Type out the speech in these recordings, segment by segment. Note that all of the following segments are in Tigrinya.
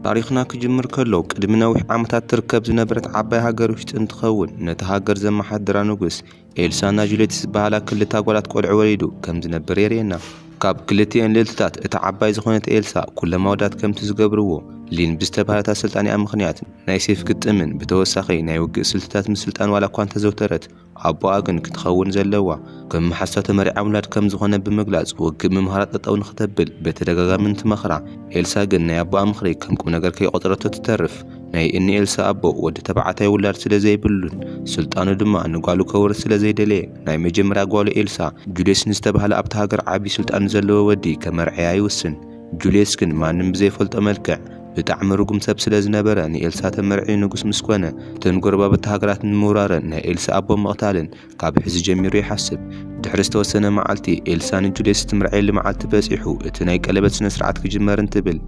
ታሪኽና ክጅምር ከሎ ቅድሚ ነዊሕ ዓመታት ትርከብ ዝነበረት ዓባይ ሃገር ውሽጢ እንትኸውን ነቲ ሃገር ዘመሓድራ ንጉስ ኤልሳና ጁሌትስ ዝበሃላ ክልተ ኣጓላት ቆልዑ ወሊዱ ከም ዝነበር የርእየና። ካብ ክልቲኤን ልእልትታት እታ ዓባይ ዝኾነት ኤልሳ ኩሎም ኣወዳት ከምቲ ዝገብርዎ ሊን ብዝተባህለት ኣሰልጣኒኣ ምኽንያት ናይ ሴፍ ግጥምን ብተወሳኺ ናይ ውግእ ስልትታት ምስልጣን ዋላ እኳ እንተዘውተረት ኣቦኣ ግን ክትኸውን ዘለዋ ከም መሓዝታ ተመሪዓ ምውላድ ከም ዝኾነ ብምግላጽ ውግእ ምምሃራ ጠጠው ንኽተብል ብተደጋጋሚ እንትመኽራ፣ ኤልሳ ግን ናይ ኣቦኣ ምኽሪ ከም ቁምነገር ከይቖጸረቶ ትተርፍ። ናይ እኒ ኤልሳ ኣቦ ወዲ ተባዕታይ ውላድ ስለ ዘይብሉን ስልጣኑ ድማ ንጓሉ ከውርስ ስለ ዘይደለየ ናይ መጀመርያ ጓሉ ኤልሳ፣ ጁልየስ ንዝተባህለ ኣብታ ሃገር ዓቢ ስልጣን ንዘለዎ ወዲ ከመርዕያ ይውስን። ጁልየስ ግን ማንም ብዘይፈልጦ መልክዕ ብጣዕሚ ርጉም ሰብ ስለ ዝነበረ ንኤልሳ ተመርዕዩ ንጉስ ምስ ኮነ እተን ጎረባብቲ ሃገራት ንምውራረን ናይ ኤልሳ ኣቦ ምቕታልን ካብ ሕዚ ጀሚሩ ይሓስብ። ድሕሪ ዝተወሰነ መዓልቲ ኤልሳ ንጁልየስ እትምርዐየሉ መዓልቲ በጺሑ እቲ ናይ ቀለበት ስነ ስርዓት ክጅመር እንትብል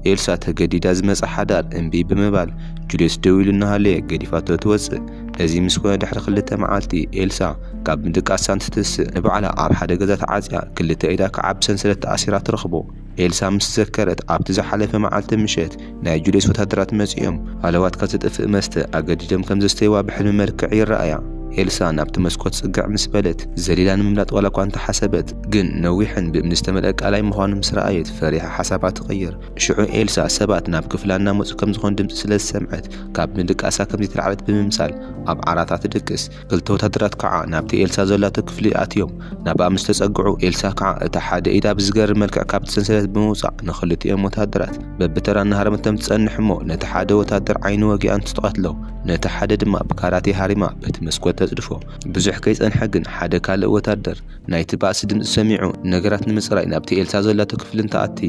ኤልሳ ተገዲዳ ዝመጸ ሓዳር እምቢ ብምባል ጁልየስ ደው ኢሉ እናሃለየ ገዲፋቶ ትወጽእ። እዚ ምስ ኮነ ድሕሪ ክልተ መዓልቲ ኤልሳ ካብ ምድቃሳ እንትትስእ ንባዕላ ኣብ ሓደ ገዛ ተዓጽያ ክልተ ኢዳ ክዓ ብሰንሰለት ተኣሲራ ትረኽቦ። ኤልሳ ምስ ዘከረት ኣብቲ ዝሓለፈ መዓልቲ ምሸት ናይ ጁልየስ ወተሃደራት መጺኦም ሃለዋትካ ዘጥፍእ መስተ ኣገዲዶም ከም ዘስተይዋ ብሕልሚ መልክዕ ይረኣያ። ኤልሳ ናብቲ መስኮት ጽግዕ ምስ በለት ዘሊላ ንምምላጥ ዋላኳ እንተሓሰበት ግን ነዊሕን ብእምኒ ዝተመልኣ ቀላይ ምዃኑ ምስ ረኣየት ፈሪሓ ሓሳባ ትቕይር። ሽዑ ኤልሳ ሰባት ናብ ክፍላ እናመጹ ከም ዝኾኑ ድምጺ ስለ ዝሰምዐት ካብ ምድቃሳ ከም ዘይተላዕለት ብምምሳል ኣብ ዓራታ ትድቅስ። ክልተ ወታደራት ከዓ ናብቲ ኤልሳ ዘላቶ ክፍሊ ኣትዮም ናብኣ ምስ ተጸግዑ ኤልሳ ከዓ እታ ሓደ ኢዳ ብዝገርም መልክዕ ካብቲ ሰንሰለት ብምውጻእ ንኽልቲኦም ወታደራት በብተራ እናሃረመቶም ትጸንሕ እሞ ነቲ ሓደ ወታደር ዓይኑ ወጊኣ እንትትቐትሎ ነቲ ሓደ ድማ ብካራቴ ሃሪማ በቲ መስኮት ተጽድፎ። ብዙሕ ከይጸንሐ ግን ሓደ ካልእ ወታደር ናይቲ ባእሲ ድምጺ ሰሚዑ ነገራት ንምጽራይ ናብቲ ኤልሳ ዘላቶ ክፍሊ እንትኣቲ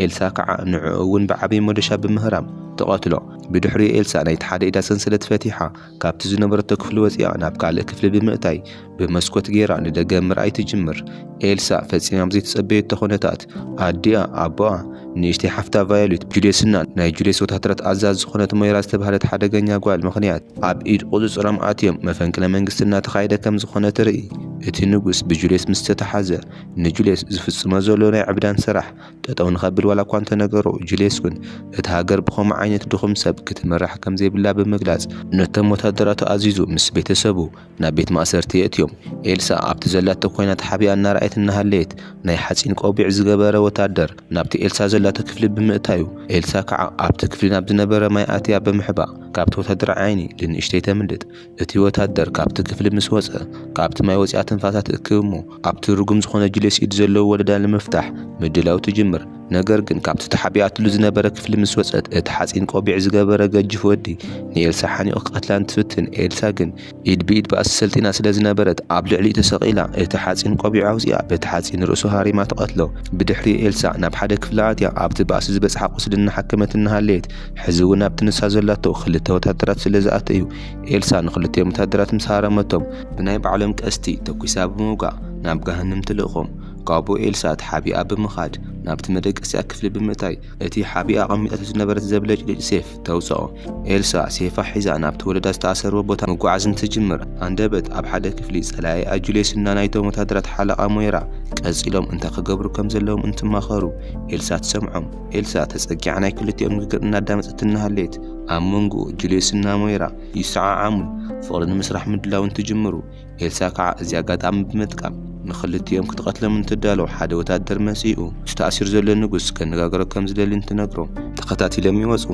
ኤልሳ ከዓ ንዕኡ እውን ብዓብይ ሞዶሻ ብምህራም ትቐትሎ። ብድሕሪኡ ኤልሳ ናይቲ ሓደ ኢዳ ሰንሰለት ፈቲሓ ካብቲ ዝነበረቶ ክፍሊ ወጺኣ ናብ ካልእ ክፍሊ ብምእታይ ብመስኮት ገይራ ንደገ ምርኣይ ትጅምር። ኤልሳ ፈጺማ ብዘይተጸበየቶ ኩነታት ኣዲኣ፣ ኣቦኣ፣ ንእሽተይ ሓፍታ ቫዮሌት ብጁልየስና ናይ ጁልየስ ወተሃደራት ኣዛዚ ዝኾነት ሞይራ ዝተባህለት ሓደገኛ ጓል ምኽንያት ኣብ ኢድ ቁጽጽሮም ኣትዮም መፈንቅለ መንግስቲ እናተኻየደ ከም ዝኾነ ትርኢ። እቲ ንጉስ ብጁልየስ ምስ ተታሓዘ ንጁልየስ ዝፍጽሞ ዘሎ ናይ ዕብዳን ስራሕ ጠጠው ንኸብል ዋላኳ እንተነገሮ፣ ጁልየስ ግን እታ ሃገር ብኸምኡ ዓይነት ድኹም ሰብ ክትምራሕ ከምዘይብላ ብምግላጽ፣ ነቶም ወተሃደራቱ ኣዚዙ ምስ ቤተሰቡ ናብ ቤት ማእሰርቲ የእትዮም። ኤልሳ ኣብቲ ዘላቶ ኮይና ተሓቢኣ እናረኣየት እናሃለየት፣ ናይ ሓጺን ቆቢዕ ዝገበረ ወተሃደር ናብቲ ኤልሳ ዘላቶ ክፍሊ ብምእታዩ፣ ኤልሳ ከዓ ኣብቲ ክፍሊ ናብ ዝነበረ ማይ ኣትያ ብምሕባእ ካብቲ ወተሃደራይ ዓይኒ ልንእሽተይ ተምልጥ። እቲ ወታደር ካብቲ ክፍሊ ምስ ወጸ፣ ካብቲ ማይ ወጺኣ ትንፋሳ ትእክብ እሞ ኣብቲ ርጉም ዝኾነ ጁልየስ ኢድ ዘለዎ ወለዳ ንምፍታሕ ምድላው ትጅምር። ነገር ግን ካብቲ ተሓቢኣትሉ ዝነበረ ክፍሊ ምስ ወጸት እቲ ሓጺን ቆቢዕ ዝገበረ ገጅፍ ወዲ ንኤልሳ ሓኒቑ ክቀትላ እንትፍትን ኤልሳ ግን ኢድ ብኢድ ባእሲ ሰልጢና ስለ ዝነበረት ኣብ ልዕሊኡ ተሰቒላ እቲ ሓጺን ቆቢዕ ኣውጺኣ በቲ ሓጺን ርእሱ ሃሪማ ትቐትሎ። ብድሕሪኡ ኤልሳ ናብ ሓደ ክፍሊ ኣትያ ኣብቲ ባእሲ ዝበጽሓ ቁስሊ እናሓከመት እናሃለየት ሕዚ እውን ኣብቲ ንሳ ዘላቶ ክልተ ወታደራት ስለ ዝኣተዩ ኤልሳ ንኽልቲኦም ወተሃደራት ምስ ሃረመቶም፣ ብናይ ባዕሎም ቀስቲ ተኲሳ ብምውጋእ ናብ ገሃነም ትልእኮም። ካብኡ ኤልሳ ተሓቢኣ ብምኻድ ናብቲ መደቀሲኣ ክፍሊ ብምእታይ እቲ ሓቢኣ ኣቐሚጣቶ ዝነበረት ዘብለጭልጭ ሴፍ ተውጽኦ። ኤልሳ ሴፋ ሒዛ ናብቲ ወለዳ ዝተኣሰርዎ ቦታ ምጉዓዝ እንትጅምር፣ ሃንደበት ኣብ ሓደ ክፍሊ ጸላኢኣ ጁልየስ እና ናይቶም ወተሃደራት ሓለቓ ሞይራ ቀጺሎም እንታይ ክገብሩ ከም ዘለዎም እንትማኸሩ ኤልሳ ትሰምዖም። ኤልሳ ተጸጊዓ ናይ ክልቲኦም ንግግር እናዳመጸት እናሃለየት፣ ኣብ መንጎኡ ጁልዮስን ናሞይራ ይሰዓዓሙን ፍቕሪ ንምስራሕ ምድላው እንትጅምሩ፣ ኤልሳ ከዓ እዚ ኣጋጣሚ ብምጥቃም ንክልቲኦም ክትቐትሎም እንትዳለው ሓደ ወታደር መፂኡ እቲ ተኣሲሩ ዘሎ ንጉስ ከነጋግሮ ከም ዝደሊ እንትነግሮ፣ ተኸታቲሎም ይወፁ።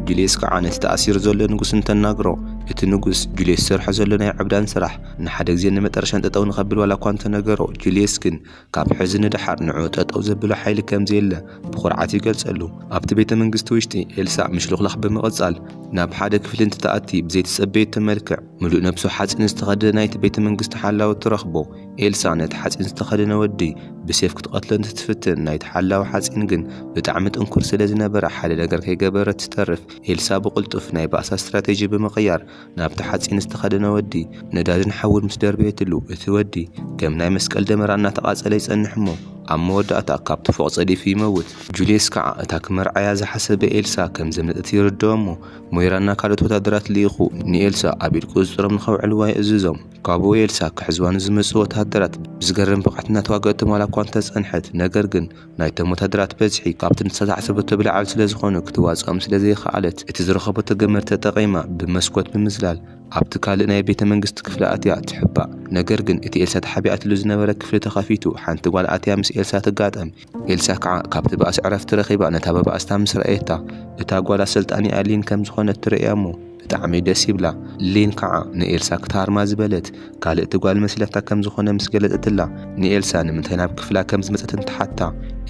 ጁልዮስ ከዓ ነቲ ተኣሲሩ ዘሎ ንጉስ እንተናግሮ፣ እቲ ንጉስ ጁልዮስ ዝሰርሖ ዘሎ ናይ ዕብዳን ስራሕ ንሓደ ግዜን ንመጠረሻን ጠጠው ንኸብል ዋላ እኳ እንተነገሮ፣ ጁልዮስ ግን ካብ ሕዚ ንደሓር ንዑ ጠጠው ዘብሎ ሓይሊ ከም ዘየለ ብኹርዓት ይገልጸሉ። ኣብቲ ቤተ መንግስቲ ውሽጢ ኤልሳእ ምሽልኽላኽ ብምቕጻል ናብ ሓደ ክፍሊ እንትትኣቲ ብዘይተጸበየቶ መልክዕ ምሉእ ነብሱ ሓጺን ዝተኸደነ ናይቲ ቤተ መንግስቲ ሓላዊ ትረኽቦ። ኤልሳእ ነቲ ሓጺን ዝተኸደነ ወዲ ብሴፍ ክትቐትሎ እንትትፍትን ናይቲ ሓላዊ ሓጺን ግን ብጣዕሚ ጥንኩር ስለ ዝነበረ ሓደ ነገር ከይገበረት ዝተርፍ። ኤልሳእ ብቕልጡፍ ናይ ባእሳ ስትራቴጂ ብምቕያር ናብቲ ሓጺን ዝተኸደነ ወዲ ነዳድን ሓውን ምስ ደርበየትሉ፣ እቲ ወዲ ከም ናይ መስቀል ደመራ እናተቓጸለ ይጸንሕ እሞ ኣብ መወዳእታ ካብቲ ፎቕ ጸዲፉ ይመውት። ጁልየስ ከኣ እታ ክመርዓያ ዝሓሰበ ኤልሳ ከም ዘምለጠት ይርድኦ እሞ፣ ሞይራና ካልኦት ወተሃደራት ልኢኹ ንኤልሳ ኣብ ኢድ ቁጽጽሮም ንኸውዕልዋ ይእዝዞም። ካብኡ ኤልሳ ክሕዝዋ ንዝመጽኡ ወተሃደራት ብዝገርም ብቕዓት እናተዋግኣቶም ዋላ እኳ እንተጸንሐት፣ ነገር ግን፣ ናይቶም ወታደራት በዝሒ ካብቲ ንዝተታሕዘበቶ ብላዕሊ ስለ ዝኾኑ ክትዋጽኦም ስለ ዘይኸኣለት፣ እቲ ዝረኸበቶ ገመድ ተጠቒማ ብመስኮት ብምዝላል ኣብቲ ካልእ ናይ ቤተ መንግስቲ ክፍሊ ኣትያ ትሕባእ። ነገር ግን እቲ ኤልሳ ተሓቢኣትሉ ዝነበረ ክፍሊ ተኸፊቱ ሓንቲ ጓል ኣትያ ምስ ኤልሳ ትጋጠም። ኤልሳ ከኣ ካብቲ ባእሲ ዕረፍቲ ረኺባ ነታ ብባእስታ ምስ ረኣየታ እታ ጓል ኣሰልጣኒኣ ሊን ከም ዝኾነት ትርእያ'ሞ፣ ብጣዕሚ ደስ ይብላ ሊን ካዓ ንኤልሳ ክትሃርማ ዝበለት ካልእቲ ጓል መስለካ ከም ዝኮነ ምስ ገለጸትላ ንኤልሳ ንምንታይ ናብ ክፍላ ከም ዝመጸት እንትሓታ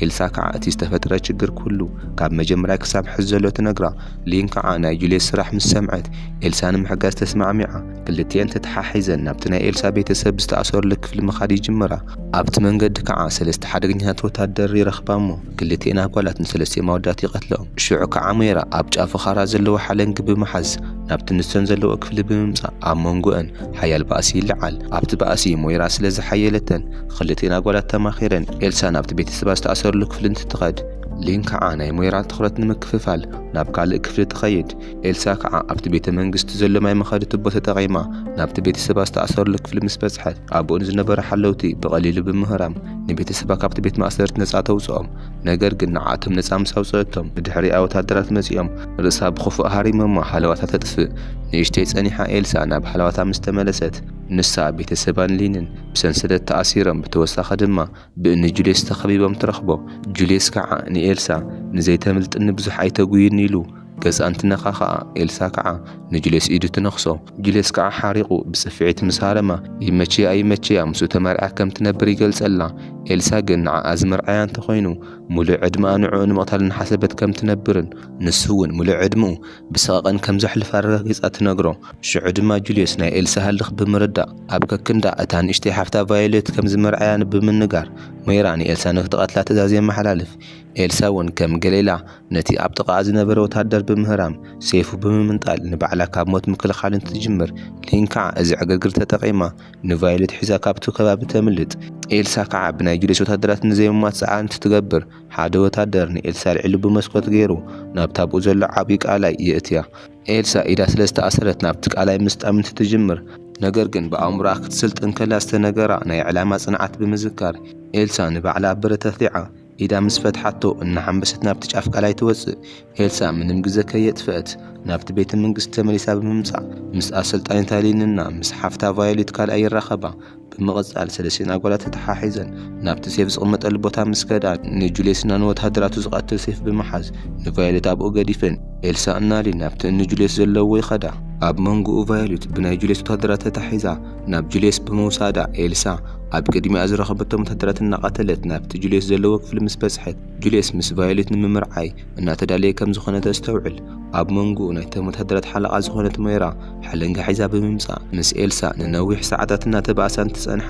ኤልሳ ካዓ እቲ ዝተፈጥረ ችግር ኩሉ ካብ መጀመርያ ክሳብ ሕዚ ዘሎ ትነግራ ሊን ካዓ ናይ ጁልየስ ስራሕ ምስ ሰምዐት ኤልሳ ንምሕጋዝ ተስማዕሚዓ ክልቲኤን ተታሓሒዘን ናብቲ ናይ ኤልሳ ቤተሰብ ዝተኣሰርሉ ክፍሊ ምካድ ይጅምራ ኣብቲ መንገዲ ከኣ ሰለስተ ሓደገኛታት ወታደር ይረኽባሞ ክልቴን ኣጓላት ንሰለስቴም ኣወዳት ይቐትለኦም። ሽዑ ከኣ ሞይራ ኣብ ጫፉ ኻራ ዘለዎ ሓለንጊ ብምሓዝ ናብቲ ንሰን ዘለዎ ክፍሊ ብምምጻእ ኣብ መንጎኣን ሓያል ባእሲ ይለዓል። ኣብቲ ባእሲ ሞይራ ስለ ዝሓየለ እተን ኽልቴን ኣጓላት ተማኺረን ኤልሳ ናብቲ ቤተሰባ ዝተኣሰረሉ ክፍሊ እንትትኸድ፣ ሊን ከኣ ናይ ሞይራ ትኹረት ንምክፍፋል ናብ ካልእ ክፍሊ ትኸይድ። ኤልሳ ከኣ ኣብቲ ቤተ መንግስቲ ዘሎ ማይ መኻዲ ቱቦ ተጠቒማ ናብቲ ቤተሰባ ዝተኣሰረሉ ክፍሊ ምስ በጽሐት ኣብኡ ንዝነበሩ ሓለውቲ ብቐሊሉ ብምህራም ንቤተሰባ ካብቲ ቤት ማእሰርቲ ነጻ ተውጽኦም። ነገር ግን ንዓኣቶም ነጻ ምስ ኣውጽኣቶም ብድሕሪኣ ወተሃደራት መጺኦም ርእሳ ብኽፉእ ሃሪሞማ ሃለዋታ ተጥፍእ። ንእሽተይ ጸኒሓ ኤልሳ ናብ ሃለዋታ ምስ ተመለሰት ንሳ፣ ቤተሰባን ሊንን ብሰንሰለት ተኣሲሮም ብተወሳኺ ድማ፣ ብእኒ ጁልየስ ተኸቢቦም ትረኽቦ። ጁልየስ ከዓ ንኤልሳ ንዘይተምልጥኒ ብዙሕ ኣይተጉይኒ ኢሉ ገፃ እንትነኻኽኣ ኤልሳ ከዓ ንጁልየስ ኢዱ ትነኽሶ። ጁልየስ ከዓ ሓሪቑ ብፅፍዒት ምስ ሃረማ ይመቸያ ኣይመቸያ ምስኡ ተመርዕያ ከም ትነብር ይገልፀላ። ኤልሳ ግን ንዓኣ ዝምርዓያ እንተኾይኑ ሙሉእ ዕድመኣ ንዕኡ ንምቕታል እናሓሰበት ከም ትነብርን ንሱ እውን ሙሉእ ዕድመኡ ብሰቐቐን ከም ዘሕልፍ ኣረጋጊፃ ትነግሮ። ሽዑ ድማ ጁልየስ ናይ ኤልሳ ህልኽ ብምርዳእ። ኣብ ከክንዳ እታ ንእሽተይ ሓፍታ ቫዮሌት ከም ዝመርዓያ ንብምንጋር፣ ሞይራ ንኤልሳ ንኽትቐትላ ትእዛዝ የመሓላልፍ። ኤልሳ እውን ከም ገሌላ ነቲ ኣብ ጥቓኣ ዝነበረ ወተሃደር ብምህራም፣ ሴይፉ ብምምንጣል ንባዕላ ካብ ሞት ምክልኻል እንትትጅምር፣ ሊን ከዓ እዚ ዕግርግር ተጠቒማ ንቫዮሌት ሒዛ ካብቲ ከባቢ ተምልጥ። ኤልሳ ከዓ ብናይ ጁልየስ ወተሃደራት ንዘይምሟት ፃዕሪ እንትትገብር፣ ሓደ ወተሃደር ንኤልሳ ኣልዒሉ ብመስኮት ገይሩ ናብቲ ኣብኡ ዘሎ ዓብዪ ቀላይ የእትያ። ኤልሳ ኢዳ ስለ ዝተኣሰረት ናብቲ ቃላይ ምስጣም እንትትጅምር፣ ነገር ግን ብኣእምሮኣ ክትስልጥን ከላ ዝተነገራ ናይ ዕላማ ጽንዓት ብምዝካር፣ ኤልሳ ንባዕላ ኣብ ብረት ኣፍሊዓ ኢዳ ምስ ፈትሓቶ እናሓንበሰት ናብቲ ጫፍ ቃላይ ትወጽእ። ኤልሳ ምንም ግዘ ከየጥፈኣት ናብቲ ቤተ መንግስቲ ተመሊሳ ብምምጻእ ምስ ኣሰልጣኒት ኣሊን እና ምስ ሓፍታ ቫዮሌት ካልኣይ ይራኸባ። ብምቕጻል ሰለስቲኤን ኣጓላት ተተሓሒዘን ናብቲ ሴፍ ዝቕመጠሉ ቦታ ምስ ከዳ ንጁልየስና ንወተሃደራቱ ዝቐትል ሴፍ ብምሓዝ ንቫዮሌት ኣብኡ ገዲፈን ኤልሳ እና ሊን ናብቲ እኒ ጁልየስ ዘለውዎ ይኸዳ። ኣብ መንጎኡ ቫዮሌት ብናይ ጁልየስ ወተሃደራት ተታሒዛ ናብ ጁልየስ ብምውሳዳ ኤልሳ ኣብ ቅድሚኣ ዝረኸበቶም ወተሃደራት እናቐተለት ናብቲ ጁልየስ ዘለዎ ክፍሊ ምስ በጽሐት ጁልየስ ምስ ቫዮሌት ንምምርዓይ እናተዳለየ ከም ዝኾነ ተስተውዕል። ኣብ መንጎኡ ናይቶም ወተሃደራት ሓለቓ ዝኾነት ሞይራ ሓለንጋ ሒዛ ብምምጻእ ምስ ኤልሳ ንነዊሕ ሰዓታት እናተባእሳ እንትጸንሓ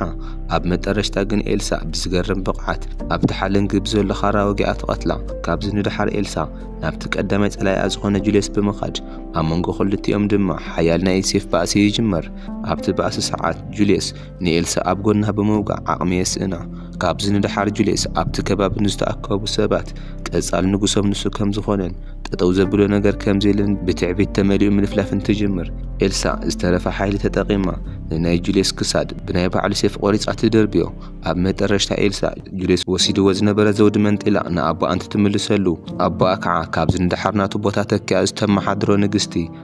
ኣብ መጠረሽታ ግን ኤልሳ ብዝገርም ብቕዓት ኣብቲ ሓለንጊ ብዘሎ ካራ ወጊኣ ትቐትላ። ካብዚ ንደሓር ኤልሳ ናብቲ ቀዳማይ ጸላኢኣ ዝኾነ ጁልየስ ብምኻድ ኣብ መንጎ ክልቲኦም ድማ ሓያል ናይ ኢድ ሴፍ ባእሲ ይጅመር። ኣብቲ ባእሲ ሰዓት ጁልየስ ንኤልሳ ኣብ ጎና ብምውጋዕ ዓቕሚ የስእና። ካብዚ ንደሓር ጁልየስ ኣብቲ ከባቢ ንዝተኣከቡ ሰባት ቀጻሊ ንጉሶም ንሱ ከም ዝዀነን ጠጠው ዘብሎ ነገር ከም ዘየለን ብትዕቢት ተመሊኡ ምልፍላፍ እንትጅምር፣ ኤልሳ ዝተረፈ ሓይሊ ተጠቒማ ንናይ ጁልየስ ክሳድ ብናይ ባዕሉ ሴፍ ቈሪጻ ትድርብዮ። ኣብ መጠረሽታ ኤልሳ ጁልየስ ወሲድዎ ዝነበረ ዘውዲ መንጢላ ንኣቦኣ እንትትምልሰሉ፣ ኣቦኣ ከኣ ካብዚ ንደሓር ናቱ ቦታ ተኪኣ ዝተመሓድሮ ንግስቲ፣